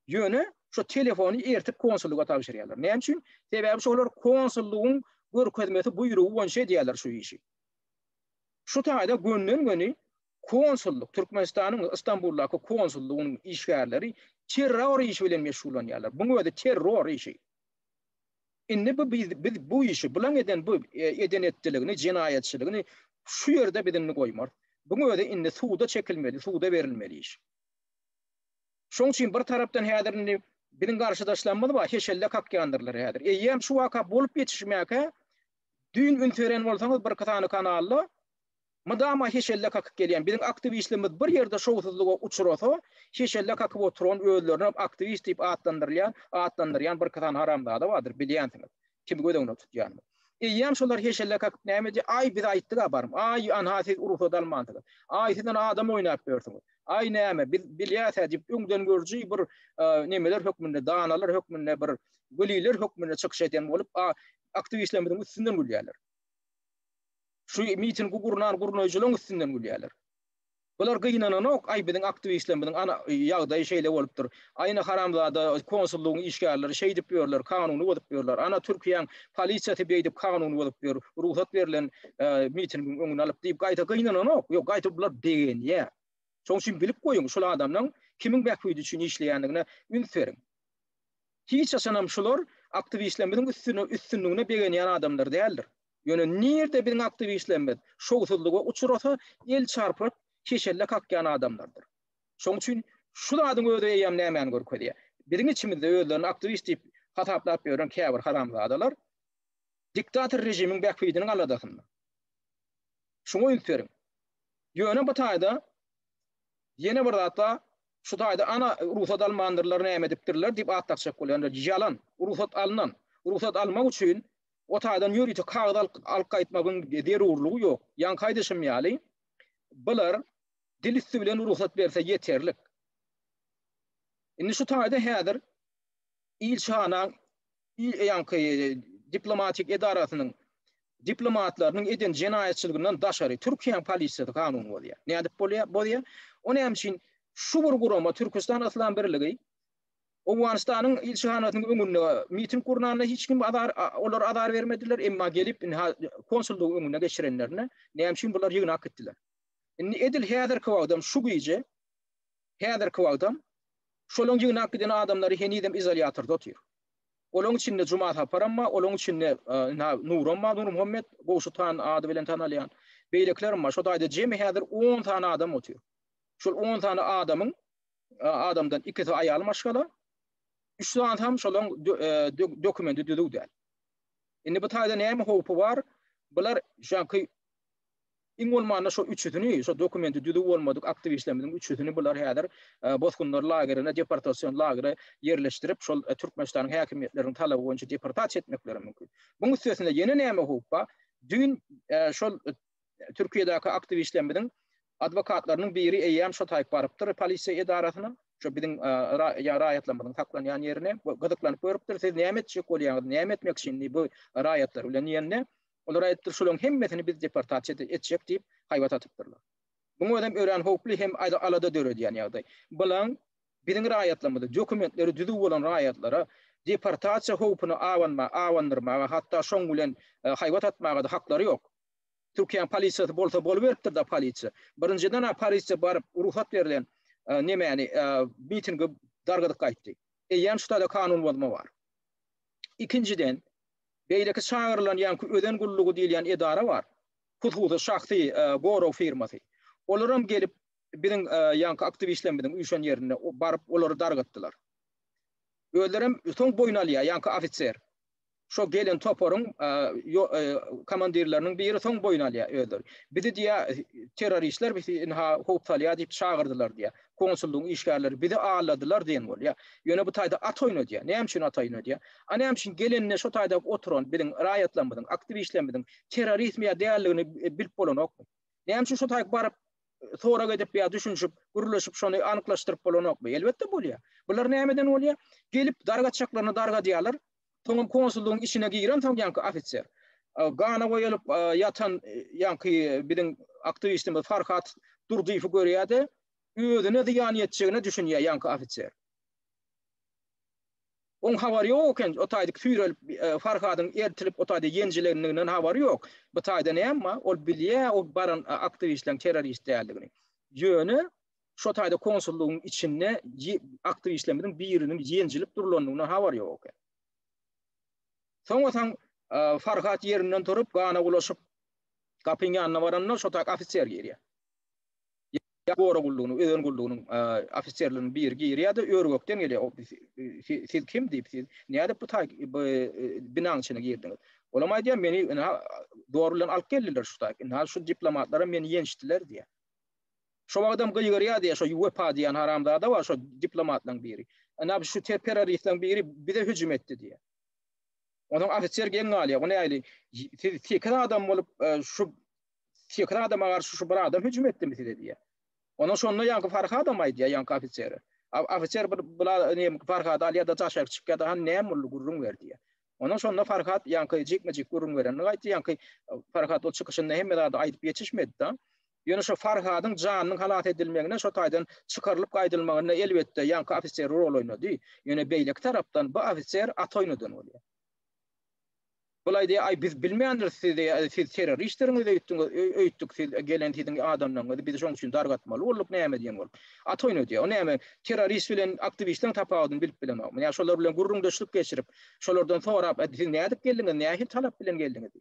Ýöne şu telefony ertip konsullyga tabşyrýarlar. Näme üçin? Sebäbi şolar konsullygyň görkezmesi buýrugy boýunça edýärler şu işi. Şu taýda gönden-göni konsullyk, Türkmenistanyň Istanbuldaky konsullygynyň işgärleri terror işi bilen meşgullanýarlar. Buň özi terror işi. Indi bu biz, biz bu işi bulan eden bu e, eden etdiligini, jenaýatçylygyny şu ýerde biz indi goýmar. Buň özi indi suda çekilmeli, suda berilmeli iş. Şoň üçin bir tarapdan häzir indi biziň garşydaşlarymyz bar, heşelle kakýandyrlar häzir. Eýýäm şu waka bolup ýetişmäkä düýn üns beren bolsaňyz birki sany kanalda mydama heşelle kakyp gelýän biziň aktiwistlerimiz bir ýerde şowsuzlyga uçrasa, heşelle kakyp oturan özlerinem aktiwist diýip atlandyrylýan, atlandyrýan birki sany haramzada bardyr, bilýänsiňiz. Kimi göz öňüne tutýan? Eýýäm şolar heşelle kakyp näme edýär? Aý, biz aýtdyk-a baryp. Aý, anha siz rugsat almansyňyz. Aý, siz ine adam oýnap ýörsüňiz. Aý, näme, biz bilýäs-ä diýip, öňdengörüji bir nemeler hökmünde, danalar hökmünde, bir weliler hökmünde çykyş edýän bolup, aktiwistlerimiziň üstünden gülýärler. Şu mitingi gurnan gurnaýjylaryň üstünden gülýärler. Bular gynananok, aý biziň aktiwistlerimiziň ana ýagdaýy şeýle bolupdyr, aýna haramzada konsullygyň işgärleri şeýdip ýörler, kanuny bozup ýörler, ana Türkiýäň polisiýasy beýdip kanuny bozup ýör, rugsat berlen mitingiň öňüni alyp diýip gaýta gynananok, ýok gaýta bular begenýär. Şoň üçin bilip goýuň, şul adamlaň kimiň bähbidi üçin işleýändigine üns beriň. Hiç haçanam şular aktiwistlerimiziň üstüne üstünligine begenýän adamlar däldir. Ýöne nirde biziň aktiwistlerimiz şowsuzlyga uçrasa, el çarpyp, keşelle kakýan adamlardyr. Şoň üçin şu zadyň özi eýýäm nämäni görkezýär? Biziň içimizde özlerini aktiwist diýip hasaplap ýören käbir haramzadalar diktator režimiň bähbidiniň aladasynda. Şuňa üns beriň. Ýöne bu taýda ýene bir zat bar, şu taýda ana rugsat almandyrlar näme edipdirler diýip at dakjak bolýanlar ýalan. Rugsat alnan. Rugsat almak üçin Otagdan ýörite kagyz alyp gaýtmagyň zerurlygy ýok. Ýaňky aýdyşym ýaly, bular dil üsti bilen rugsat berse ýeterlik. Indi şu taýda häzir ilçihanaň ýaňky diplomatik edarasynyň diplomatlarynyň eden jenaýatçylygyndan daşary Türkiýäň polisiýasy kanuny bozýar. Nädip bozýar? O näme üçin şu bir gurama Türküstan Yslam Birligi Owganystanyň ilçihanasynyň öňünde miting gurnanda hiç kim azar olar azar bermediler, emma gelip indi konsullygyň öňüne geçirenlerinde näme üçin bular ýygnap gitdiler. Indi edil häzirki wagtam şu gije häzirki wagtam şolaň ýygnap giden adamlary henizem izolýatorda otyr. Olaň içinde Juma Saparam bar, olaň içinde ynha Nuram bar, Nurmuhammet Gowşut han ady bilen tanalýan. Beýlekilerem bar. Şo taýda jemi häzir on sany adam otyr. Şol on sany adamyň. adamdan ikisi aýal maşgala, üç sany hem şolaň dokumenti düzüw däl. Indi bu taýda näme howpy bar? Bular şoňky iň bolmanda şu üçüsini, şu dokumenti düzüw bolmadyk aktiwistlerimiziň üçüsini bular häzir bosgunlar lagerine, deportasion lagere ýerleşdirip, şol Türkmenistanyň häkimiýetleriniň talaby boýunça deportasiýa etmekleri mümkin. Muň üstesine ýene näme howp bar? Düýn şol Türkiýedäki aktiwistlerimiziň adwokatlarynyň biri eýýäm şo taýyp barypdyr polisiýa edarasyna. Şo biziň raýatlarymyzyň saklanýan ýerine gyzyklanyp görüpdir. Siz näme etjek bolýaňyz? Näme etmek üçin bu raýatlar bilen diýende, olar aýdypdyr, şolaryň hemmesini biz deportasiýa etjek diýip haýbat atypdyrlar. Muň özem örän howply hem alada döredýän ýagdaý. Bilaň biziň raýatlarymyzy, dokumentleri düzüw bolan raýatlara deportasiýa howpuny abandyrmaga, hatda şoň bilen haýbat atmaga-da haklary ýok. Türkiýäň polisiýasy bolsa boluberipdir-da polisiýa. Birinjiden-ä polisiýa baryp rugsat berlen nemäni mitingi dargadyp gaýtdy. Eýýäm şutada kanun bozma bar. Ikinjiden, beýleki çagyrylan ýaňky özen gullugy diýilýän edara bar. Hususy şahsy gorag firmasy. Olaram gelip biziň ýaňky aktiwistlerimiziň üýşen ýerinde baryp olary dargatdylar. Özlerem soň boýun alýar ýaňky ofiser. şo gelen toparyň komandirleriniň biri soň boýun alýar özleri. Bizi diýýär, terroristler bizi ynha howp salýar diýip çagyrdylar diýýär. Konsullygyň işgärleri bizi alladylar diýen bolýar. Ýöne bu taýda at oýnadýar. Näme üçin at oýnadýar? A näme üçin gelende şo taýda oturan biziň raýatlarymyzyň, aktiwistlerimiziň terroristmi ýa däldigini bilip bolanokmy? Näme üçin şo taýda baryp sorag edip ýa düşünişip, gürleşip şony anyklaşdyryp bolanokmy? Elbetde bolýar. Bular nämeden bolýar? Gelip dar gaçaklaryny dargadýarlar, Soňam konsullygyň içine girensoň ýaňky ofiser, gana boýalyp ýatan ýaňky biziň aktiwistimiz Farhat Durdyýewi görýär-de, özüne zyýan ýetjegine düşünýär ýaňky ofiser. Oň habary ýok eken, o taýda süýrelip, Farhadyň ertilip, o taýda ýenjilendiginden habary ýok. Bu taýda näme, ol bilýär ol baran aktiwistleriň terrorist däldigini. Ýöne Şo taýda konsullygyň içinde aktiwistlerimiziň biriniň ýenjilip durlandygyna habar ýok eken. Soňasaň Farhat ýerinden turup, gana bulaşyp, gapyň ýanyna baranda şo taýda ofiser girýär. Gora gullugynyň, özen gullugynyň ofiserleriniň biri girýär-de, ör-gökden gelýär. Siz kim diýip, siz nädip bu taý bu binanyň içine girdiňiz? Olam aýdýar, meni ina zor bilen alyp geldiler şu taý. Ina şu diplomatlaram meni ýençdiler diýýär. Şo wagtam gygyryýady, şo Wepa diýen haramzada bar, şo diplomatlaň biri. Ana şu terroristleň biri bize hüjüm etdi diýýär. Onuň ofiser geň galýar. Ony aýly, siz sekiz adam bolup, e, şu sekiz adama garşy şu bir adam hüjüm etdimi size diýýär. Onuň şonda ýaňky Farhadam aýdýar ýaňky ofiseri. Ofiser bir bular ne Farhad alýar-da daşak çykýar-da, han näme boldy gürrüň ber diýýär. Ondan şonda Farhat ýaňky jikme-jik gürrüň berenini aýtdy. Ýaňky Farhat ol çykyşynda hemme zady aýdyp geçişmedi-de. Ýöne şo Farhadyň janynyň halas edilmegine şo taýdan çykarylyp gaýdylmagynda elbetde ýaňky ofiser rol oýnady. Ýöne beýleki tarapdan bu ofiser at oýnadan bolýar. Bulaý diýýär, aý biz bilmändiris sizi, siz terroristdiriňiz öýtdüňiz, öýtdük siz gelen siziň adamlaryňyzy biz şoň üçin dargatmaly bolduk näme diýen bolup. At oýnadýar. O näme terrorist bilen aktiwistiň tapawudyny bilip bilemokmy? Ýa şolar bilen gürrüňdeşlik geçirip, Şolardan sorap, Ädi siz nädip geldiňiz, nähili talap bilen geldiňiz?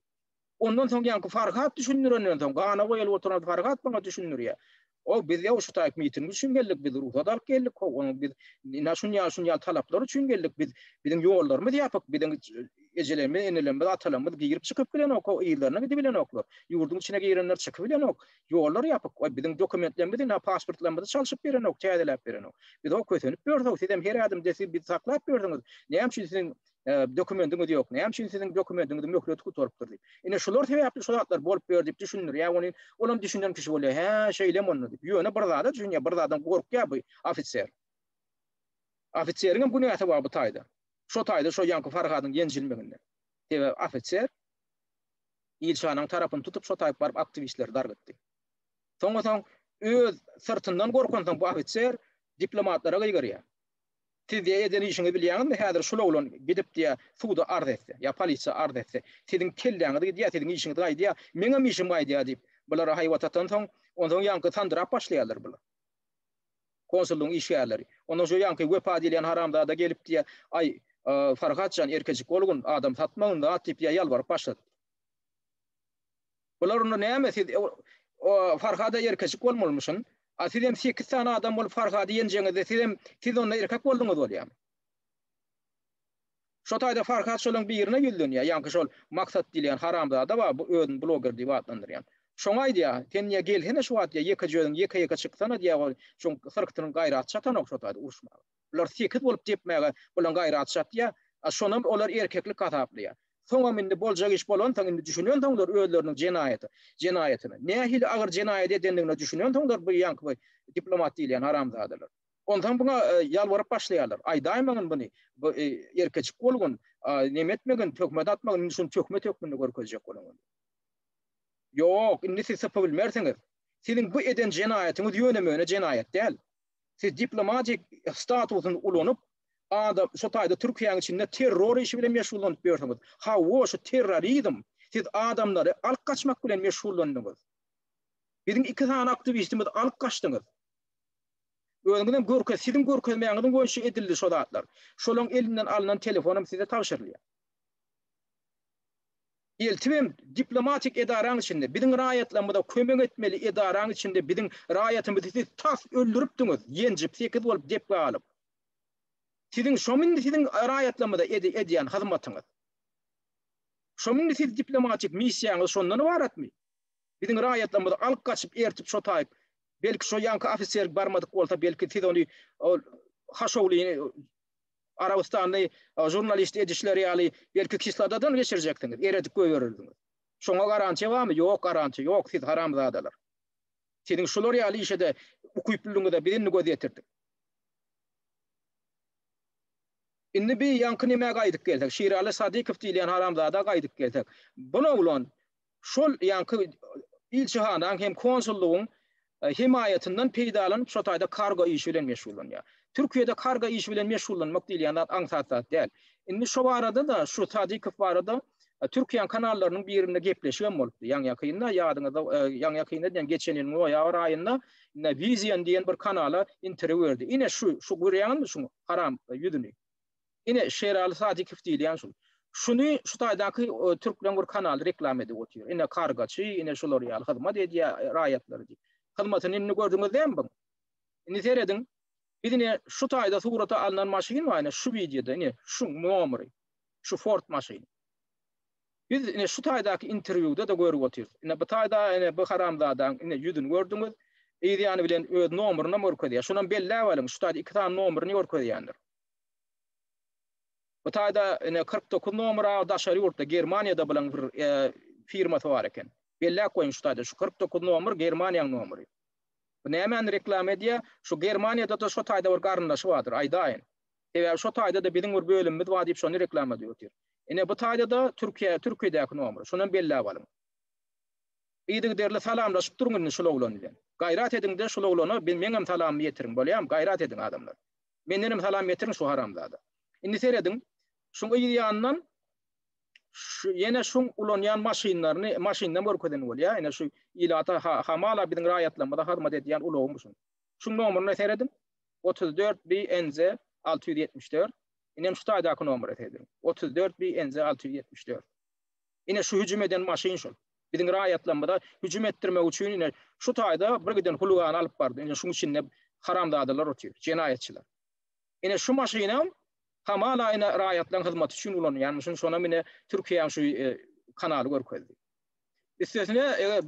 Ondan soň ýaňky Farhat düşündirenden soň, gana goýulyp oturan Farhat maňa düşündirýär. O biz ýa şu taýk miting üçin geldik, biz rugsat alyp geldik, ho, onuň biz ina şun ýa şun ýa talaplar üçin geldik, biz biziň ýollarymyz ýapyk, biziň ejelerimiz, enelerimiz, atalarymyz girip çykyp bilenok, ho, yzlaryna gidip bilenoklar. Ýurduň içine girenler çykyp bilenok. Ýollar ýapyk. Waý, biziň dokumentlerimizi, nä pasportlarymyzy çalşyp berenok, täzeläp berenok. Biz-ow kösenip ýörüs-ow, sizem her ädimde siz bizi saklap ýörsüňiz. Näme üçin siziň dokumendiňiz ýok? Näme üçin siziň dokumendiňiziň möhleti gutarypdyr diýip. Ine, şular sebäpli şu zatlar bolup ýör diýip düşündirýär ony. Olam düşünen kişi bolýar. Hä, şeýlemi onda diýip. Ýöne bir zada düşünýär, bir zadam gorkýar bu ofiser. Ofiseriňem günäsi bar bu taýda. Şo taýda şo ýaňky Farhadyň ýenjilmeginden. Sebäbi ofiser. Ilşanyň tarapyny tutup şo taýyp baryp aktiwistleri darp etdi. Soňa soň öz syrtyndan gorkansoň bu ofiser diplomatlara gygyryar. Siz diýe eden işiňi bilýäňizmi häzir şul oglan gidip diýe suda arz etse ýa polisiýa arz etse siziň kelläňiz gidýä siziň işiňiz gaýdýa meňem işim gaýdýa diýip bulara haýbat atansoň onsoň ýaňky sandyrap başlaýarlar bular. konsullygyň işgärleri. Onda şu ýaňky Wepa diýilýän haramzada gelip diýýär, Aý, Farhat jan, erkejik bolgun, adam satmagyn zat diýip diýýär, ýalbaryp başlady. Bular onda näme, siz Farhada erkejik bolmalymyşyn, a siz hem sekiz sany adam bolup Farhady ýenjeňizde, siz hem, siz onda erkek bolduňyz bolýamy? Şo taýda Farhat şolaň birine ýüzlenýär, ýaňky şol Maksat diýilýän haramzada bar, bu özüni bloger diýip atlandyrýan. Şoňa aýdýar, Sen diýýär, gelsene şu wagt diýýär, ýekeje özüň ýeke-ýeke çyksana diýýär, ol şoň syrktynyň gaýraty çatanok şo taýda uruşmaga. Bular sekiz bolup depmäge bulaň gaýraty çatýar, a şonam olar erkeklik hasaplaýar. Soňam indi boljak iş bolansoň, indi düşünensoňlar özleriniň jenaýaty, jenaýatyna, nähili agyr jenaýat edendigine düşünensoňlar bu ýaňky bu diplomat diýilýän haramzadalar. Onsoň buňa ýalbaryp başlaýarlar. Aýdaýmagyn buny, bu erkeçik bolgun, neme etmegin, töhmet atmagyn, indi şuny töhmet hökmünde görkezjek boluň. Ýok, indi siz sypybilmersiňiz. Siziň bu eden jenaýatyňyz ýöne-möne jenaýat däl. Siz diplomatik statusyny ulanyp, adam, şo taýda Türkiýäniň içinde terror işi bilen meşgullanyp ýörsüňiz. Hawa, şu terrorizm, siz adamlary alyp gaçmak bilen meşgullandyňyz. Biziň iki sany aktiwistimizi alyp gaçdyňyz. Özüňizem görkez, siziň görkezmäňiziň boýunça edildi şo zatlar. Şolaň elinden alnan telefonam size tabşyrylýar. Eltibem diplomatik edaraň içinde, biziň raýatlarymyza kömek etmeli edaraň içinde biziň raýatymyzy siz tas öldüripdiňiz, ýenjip, sekiz bolup depgä alyp. Siziň şomy indi siziň raýatlarymyza edýän hyzmatyňyz? Şomy indi siz diplomatik missiýaňyz şondan ybaratmy? Biziň raýatlarymyzy alyp gaçyp ertip şo taýyp belki şo ýanky ofiser barmadyk bolsa belki siz ony ol haşowlyny Arabystanly žurnalist edişleri ýaly belki kisladadan geçirjekdiňiz eredip göýerirdiňiz. Şoňa garantiýa barmy? Ýok garantiýa ýok siz haramzadalar. Siziň şular ýaly işede ukyplylygyňyza biz indi göz ýetirdik. Indi bi ýanky nämä gaýdyp gelsek Şiraly Sadykow diýilýän haramzada gaýdyp gelsek. Bun oglan şol ýanky ilçihanaň hem konsullygyň hemaýatyndan peýdalanyp şo taýda kargo işi bilen meşgullanýar. Türkiýede kargo işi bilen meşgullanmak diýilýän zat aňsat zat däl. Indi şo barada-da, şu Sadykow barada Türkiýäň kanallarynyň birinde gepleşik hem bolupdy. Ýaňy-ýakynda ýadyňyzda, ýaňy-ýakynda diýen geçen ýylyň noýabr aýynda Vizion diýen bir kanala interwýu berdi. Ine şu, şu görýäňizmi şuň haram ýüzüni? Ine, Şeraly Sadykow diýilýän şul. Şuny şu taýdaky türkleň bir kanaly reklama edip otyr. Ine, kargaçy, ine şular ýaly hyzmat edýär raýatlara diýip. Hyzmatyny indi gördüňiz dämi buň? Indi serediň. Biz ine şu taýda surata alnan maşyn bar, ine şu wideoda, ine şu nomeri. Şu Ford maşyny. Biz ine şu taýdaky interwýuda-da görüp otyrys. Ine bu taýda ine bu haramzadaň ine ýüzüni gördüňiz. Yz ýany bilen öz nomerini hem görkezýär. Şuny hem belläp alyň, şu taýda iki sany nomerini görkezýändir. Bu taýda ine kyrk dokuz nomera daşary ýurtda Germaniýada bilen bir firmasy bar eken. Belläp goýun şu taýda şu kyrk dokuz nomer Germaniýaň nomery. Bu nämäni reklama edýä? Şu Germaniýada-da şu taýda bir garyndaşy bardyr aýdaýyn. Sebäbi şu taýda-da biziň bir bölümimiz bar diýip şony reklama edip otyr. Ine bu taýda-da Türkiýe Türkiýedäki nomer. Şonam belläp alyň. Yzygiderli salamlaşyp duruň indi şul oglan bilen. Gaýrat ediňde şul oglana meňem salamymy ýetiriň bolýamy gaýrat ediň adamlar. Mendenem salam ýetiriň şu haramzada. Indi serediň, şuň yz ýanyndan şu ýene şuň ulanýan maşynlaryny, maşynynam görkezen bolýar. Ine şu ilata hamala biziň raýatlarymyza hyzmat edýän ulagy bu şuň. Şuň nomeryna serediň. 34 BNZ 674. Inem şu taýdaky nomere serediň. 34 BNZ 674. Ine şu hüjüm eden maşyn şol. Biziň raýatlarymyza hüjüm etdirmek üçin ine şu taýda birgiden huligany alyp bardy. Ine şuň içinde haramzadalar otyr, jenaýatçylar. Ine şu maşynam hamala ine raýatlaryň hyzmaty üçin ulanýan. Şuň şonam ine Türkiýäň şu kanaly görkezdi. Üstesine eger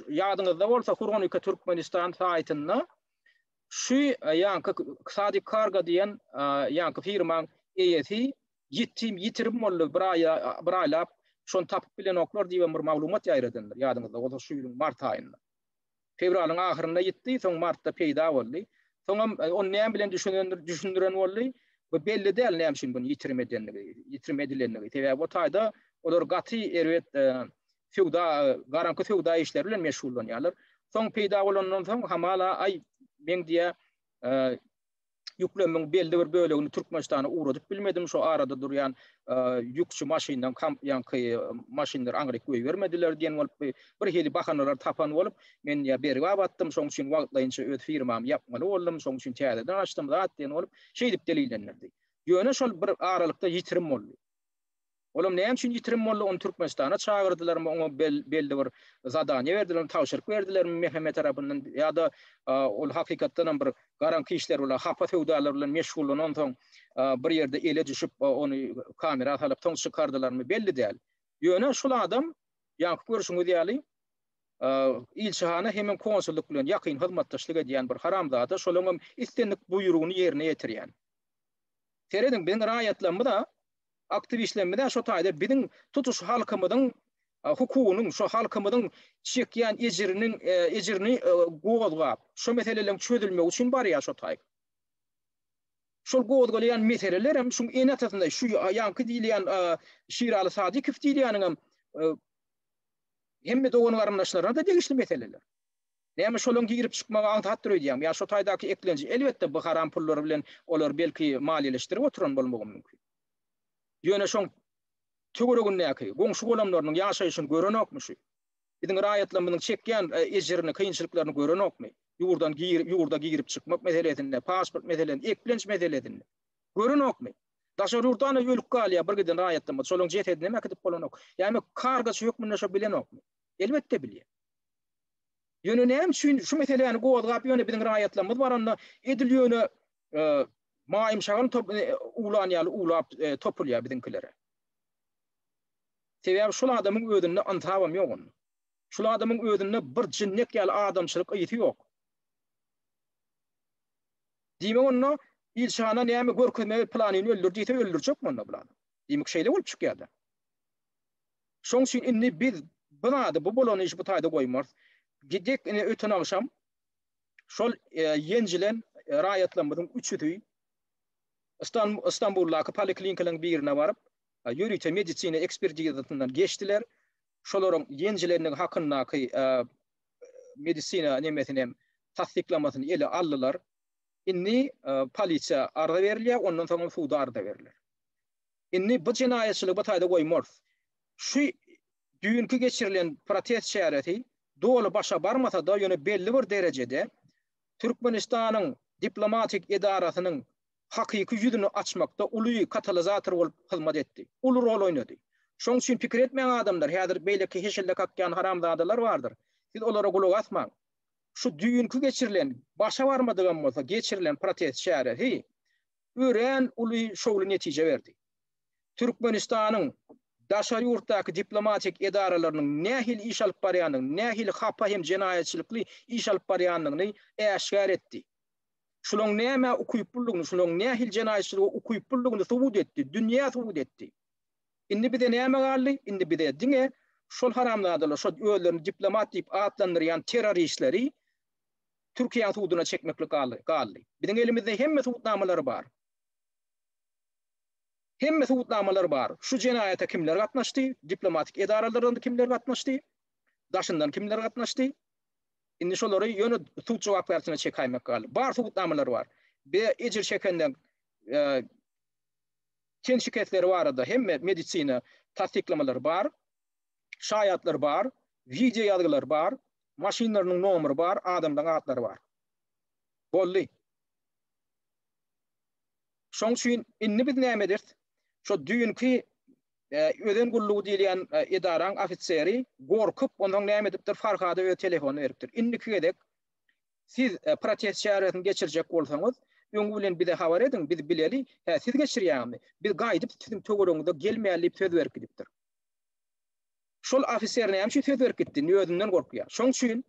ýadyňyzda bolsa Hurgonike Türkmenistan saýtynda şu ýanky Sadik Kargo diýen ýanky firmaň eýesi ýetim, ýitirim boldy, bir aýa, bir aýlap şony tapyp bilenoklar diýibem bir maglumat ýaýradandyr, ýadyňyzda bolsa şu ýylyň mart aýynda. Fewralyň ahyrynda ýitdi, soň martda peýda boldy. Soňam ony näme bilen düşünendir, düşündiren boldy. Bu belli däl näme üçin bunu ýitirim edendigi, ýitirim edilendigi. Sebäbi o taýda olar gaty erbet söwda, garaňky söwda işleri bilen meşgullanýarlar. Soň peýda bolandan soň hamala aý men diýä ýüklemiň belli bir bölegini Türkmenistana ugradyp bilmedim. Şo arada durýan ýükçi maşyndan kamp ýanky maşynlar aňryk goýbermediler diýen bolup bir hili bahanalar tapan bolup, men ýa bergi abatdym, şoň üçin wagtlaýynça öz firmamy ýapmaly boldum, şoň üçin täzeden açdym zat diýen bolup, şeýdip delillendirdi. Ýöne şol bir aralykda ýitirim boldy. Olam näme üçin ýitirim boldy ony Türkmenistana çagyrdylarmy oňa belli bir zadaniýe berdilermi tabşyryk berdilermi MHM tarapyndan ýa-da ol hakykatdanam bir garaňky işler bilen hapa söwdalar bilen meşgullanansoň bir ýerde ele düşüp ony kamera salyp soň çykardylarmy belli däl. Ýöne şul adam ýaňky görşüňiz ýaly ilçihana hemem konsullyk bilen ýakyn hyzmatdaşlyk edýän bir haramzada şolaňam islendik buýrugyny ýerine ýetirýän. Serediň biziň raýatlarymyza aktiwistlerimize şo taýda biziň tutuş halkymyzyň hukugynyň, şo halkymyzyň çekýän ejiriniň ejirini gozgap, şo meseleleriň çözülmegi üçin barýar şo taý. Şol gozgalaýan meseleler hem şuň enetasynda şu ýaňky diýilýän Şiraly Sadykow diýilýäniň hem hemme dogan-garyndaşlaryna-da degişli meseleler. Näme şolaň girip çykmagy aňsatdyr öýdýäňmi? Ýa şo taýdaky eklenji? Elbetde, bu haram pullary bilen olary belki maliýeleşdirip oturan bolmagam mümkin. Ýöne şoň töweregindäki, goňşy-golamlarynyň ýaşaýşyny görenokmy şu? Biziň raýatlarymyzyň çekýän ejirini, kynçylyklaryny görenokmy? Ýurdan girip, ýurda girip çykmak meselesinde, pasport meselesinde, eklenç meselesinde. Görenokmy? Daşary ýurtdanam ölüp galýar bir giden raýatlarymyz. Şolaň jesedinem äkidip bolanok. Näme kargaçy hökmünde şo bilenokmy? Elbetde bilýär. Ýöne näme üçin şu meseläni gozgap ýöne biziň raýatlarymyz baranda edil ýöne maýym şagal top ulan ýaly ulap topulýar biziňkilere. Sebäbi şul adamyň özünde ynsabam ýok onda. Şul adamyň özünde bir jinnek ýaly adamçylyk ysy ýok. Diýmek onda ilçana näme görkezmeli planyny öldür diýse öldürjek onda bular. Diýmek şeýle bolup çykýar-da. Şoň üçin indi biz bu zady, bu bolan işi bu taýda goýmarys. Gidek ine öten agşam şol ýenjilen raýatlarymyzyň üçüsi Stambuldaky poliklinikalaryň birine baryp, ýörite medisina ekspertizasyndan geçdiler. Şolaryň ýenjilendigi hakyndaky medisina nemesini hem tassyklamasyny ele aldylar. Indi polisiýa arza berilýär, ondan soň hem suda arza beriler. Indi bu jenaýatçylygy bir taýda goýmarys. Şu düýnki geçirilen protest çäresi doly başa barmasa-da, ýöne belli bir derejede Türkmenistanyň diplomatik edarasynyň hakyky ýüzüni açmakda uly katalizator bolup hyzmat etdi. Uly rol oýnady. Şoň üçin pikir etmäň adamlar, häzir beýleki heşelle kakýan haramzadalar bardyr. Siz olara gulak asmaň. Şu düýnki geçirilen, başa barmadygam bolsa geçirilen protest çäresi örän uly şowly netije berdi. Türkmenistanyň daşary ýurtdaky diplomatik edaralarynyň nähili iş alyp barýandygyny, nähili hapa hem jenaýatçylykly iş alyp barýandygyny äşgär etdi. Şulaň nämä ukyplydygyny, şulaň nähili jenaýatçylyga ukyplydygyny subut etdi, dünýä subut etdi. Indi bize näme galdy? Indi bize diňe şol haramzadalar, şol özlerini diplomat diýip atlandyrýan terroristleri Türkiýe suduna çekmeklik galdy, galdy. Biziň elimizde hemme subutnamalary bar. Hemme subutnamalar bar. Şu jenaýata kimler gatnaşdy? Diplomatik edaralardan kimler gatnaşdy? Daşyndan kimler gatnaşdy? Indi şolary ýöne sud jogapkärçiligine çekäýmek galdy. Bar subutnamalar bar. Be ejir çekenden e, ten şikesleri barada hemme medisina tassyklamalary bar. Şaýatlar bar, wideo ýazgylar bar, Maşynlarynyň nomeri bar, adamlaň atlary bar. Boldy. Şoň üçin indi biz näme ederis? Şo düýnki Özen gullugy diýilýän edaraň ofiseri gorkup, onsoň näme edipdir, Farhada öz telefonyny beripdir. Indiki gezek siz protest çäresini geçirjek bolsaňyz, öňi bilen bize habar ediň, biz bileli, hä, siz geçirýäňizmi? Biz gaýdyp siziň töweregiňize gelmäli diýip söz berip gidipdir. Şol ofiser näme üçin söz berip gitdi? Indi özünden gorkýar. Şoň üçin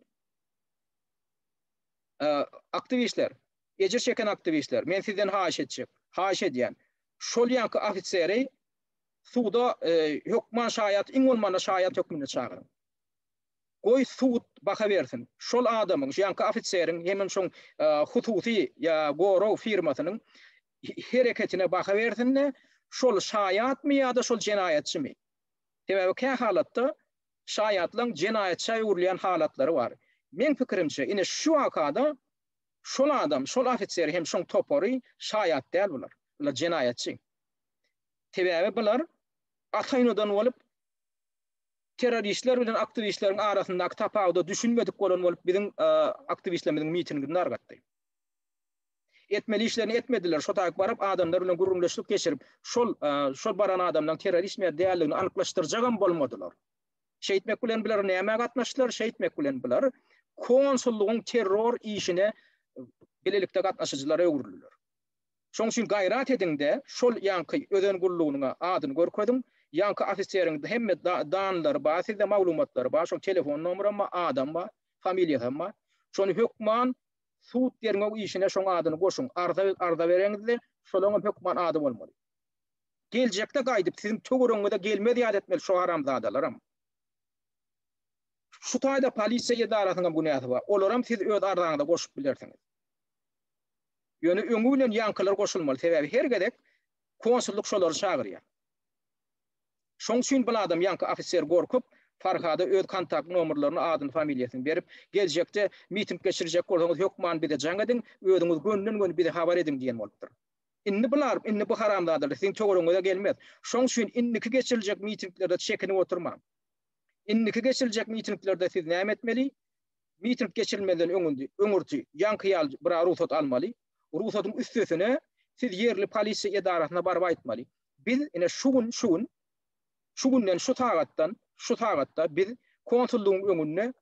aktiwistler, ejir çeken aktiwistler, men sizden haýyş etjek, haýyş edýän, şol ýanky ofiseri suwda hökman şaýat, iň bolmanda şaýat hökmünde çagyryň. Goý sud baha bersin. Şol adamyň, şu ýanky ofiseriň hemem şoň hususy ýa gorag firmasynyň hereketine baha bersin-de, şol şaýatmy ýa-da şol jenaýatçymy? Sebäbi kähalatda şaýatlaň jenaýatça öwrülýän halatlary bar. Meň pikirimçe, ine şu wakada şol adam, şol ofiser hem şoň topary şaýat däl bular. Bular jenaýatçy. Sebäbi bular ata-enadan bolup terroristler bilen aktiwistleriň arasyndaky tapawuda düşünmedik bolan bolup biziň aktiwistlerimiziň mitingini dargatdy. Etmeli işlerini etmediler. Şo taýyk baryp adamlar bilen gürrüňdeşlik geçirip, şol şol baran adamlaryň terroristmi ýa däldigini anyklaşdyrjagam bolmadylar. Şeýtmek bilen bular nämä gatnaşdylar? Şeýtmek bilen bular konsullygyň terror işine bilelikde gatnaşyjylara öwrüldiler. Şoň üçin gaýrat ediňde şol ýanky özen gullugynyň adyny görkeziň. Ýanky ofiseriň hemme danlary bar, sizde maglumatlary bar, şoň telefon nomeram bar, adam bar, familiýasam bar. Şony hökman sud derňew işine şoň adyny goşuň, arza arza bereňizde şolaň hem hökman ady bolmaly. Geljekde gaýdyp siziň töweregiňize gelmez ýaly etmeli şu haramzadalaram. Şu taýda polisiýa edarasynyň hem günäsi bar. Olaram siz öz arzaňyza goşup bilersiňiz. Ýöne öňi bilen ýaňkylar goşulmaly, sebäbi her gezek konsullyk şolary çagyrýar. Şoň üçin bir adam ýaňky ofiser gorkup, Farhada öz kontakt nomerlerini, adyny, familiýasyny berip, geljekde miting geçirjek bolsaňyz hökman bize jaň ediň, özüňiz gönden-göni bize habar ediň diýen bolupdyr. Indi bular, indi bu haramzadalar siziň töweregiňize gelmez. Şoň üçin indiki geçiriljek mitinglerde çekinip oturmaň. Indiki geçiriljek mitinglerde siz näme etmeli? Miting geçirilmezden öňündi, öňürti ýaňky ýaly bira rugsat almaly. Rugsatyň üstesine siz ýerli polisiýa edarasyna baryp aýtmaly. Biz ine şu gün, şu gün, şu günden, şu sagatdan, şu sagatda biz konsullygyň öňünde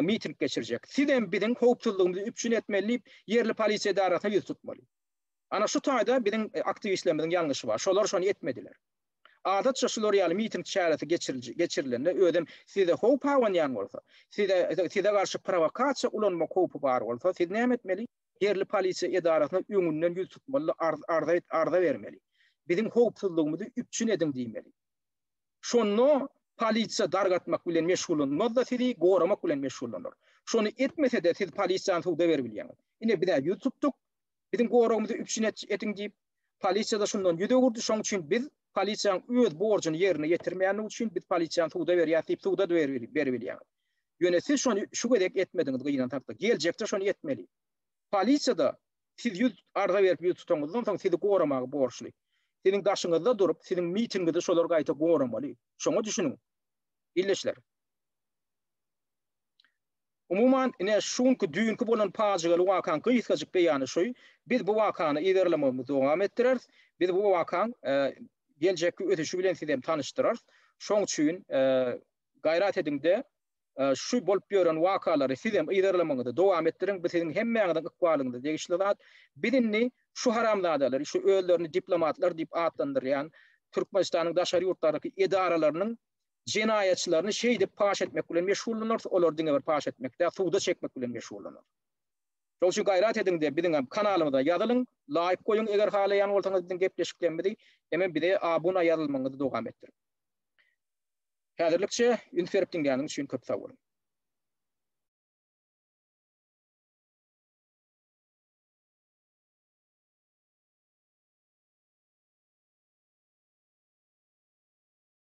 miting geçirjek. Siz hem biziň howpsuzlygymyzy üpjün etmeli diýip, ýerli polisiýa edarasyna ýüz tutmaly. Ana şu taýda biziň e, aktiwistlerimiziň ýalňyşy bar. Şolar şony etmediler. Adatça şular ýaly miting çäresi geçirilende özüm size howp abanýan bolsa, size size garşy prowokasiýa ulanmak howpy bar bolsa, siz näme etmeli? Ýerli polisiýa edarasyna öňünden ýüz tutmaly, arza bermeli. Biziň howpsuzlygymyzy üpjün ediň diýmeli. Şonda polisiýa dargatmak bilen meşgullanmaz-da sizi goramak bilen meşgullanar. Şony etmese-de siz polisiýany suda berip bilýäňiz. Ine biz-ä ýüz tutduk, biziň goragymyzy üpjün ediň diýip. Polisiýada şundan ýüz öwürdi, şoň üçin biz polisiýaň öz borjuny ýerine ýetirmeýändigi üçin biz polisiýany suda berýäs diýip suda beribilýäňiz. Ýöne siz şony şu gezek etmediňiz gyýynan hakda. Geljekde şony etmeli. Polisiýada siz ýüz arza berip ýüz tutanyňyzdan soň sizi goramaga borçly. Siziň daşyňyzda durup siziň mitingiňizi şolar gaýta goramaly. Şoňa düşüniň. Ildeşler. Umuman, ine, şu günki düýnki bolan pajygaly wakaň gysgajyk beýany şu, biz bu wakany yzarlamagymyzy dowam etdireris, biz bu wakaň geljekki ösüşi bilen sizi hem tanyşdyrarys. Şoň üçin gaýrat ediň-de, şu bolup ýören wakalary siz hem yzarlamagyňyzy dowam etdiriň, bu siziň hemmäňiziň ykbalyňyza degişli zat. Biz indi şu haramzadalary, şu özlerini diplomatlar diýip atlandyrýan Türkmenistanyň daşary ýurtlardaky edaralarynyň jenaýatçylaryny şeýdip paş etmek bilen meşgullanarys, olary diňe bir paş etmek däl, suda çekmek bilen meşgullanarys. Şoň üçin gaýrat ediň-de, biziň hem kanalymyza ýazylyň, laýk goýuň, eger halaýan bolsaňyz biziň gepleşiklerimizi, hemem bize abuna ýazylmagyňyzy dowam etdiriň. Häzirlikçe üns berip diňläniň üçin köp sag boluň.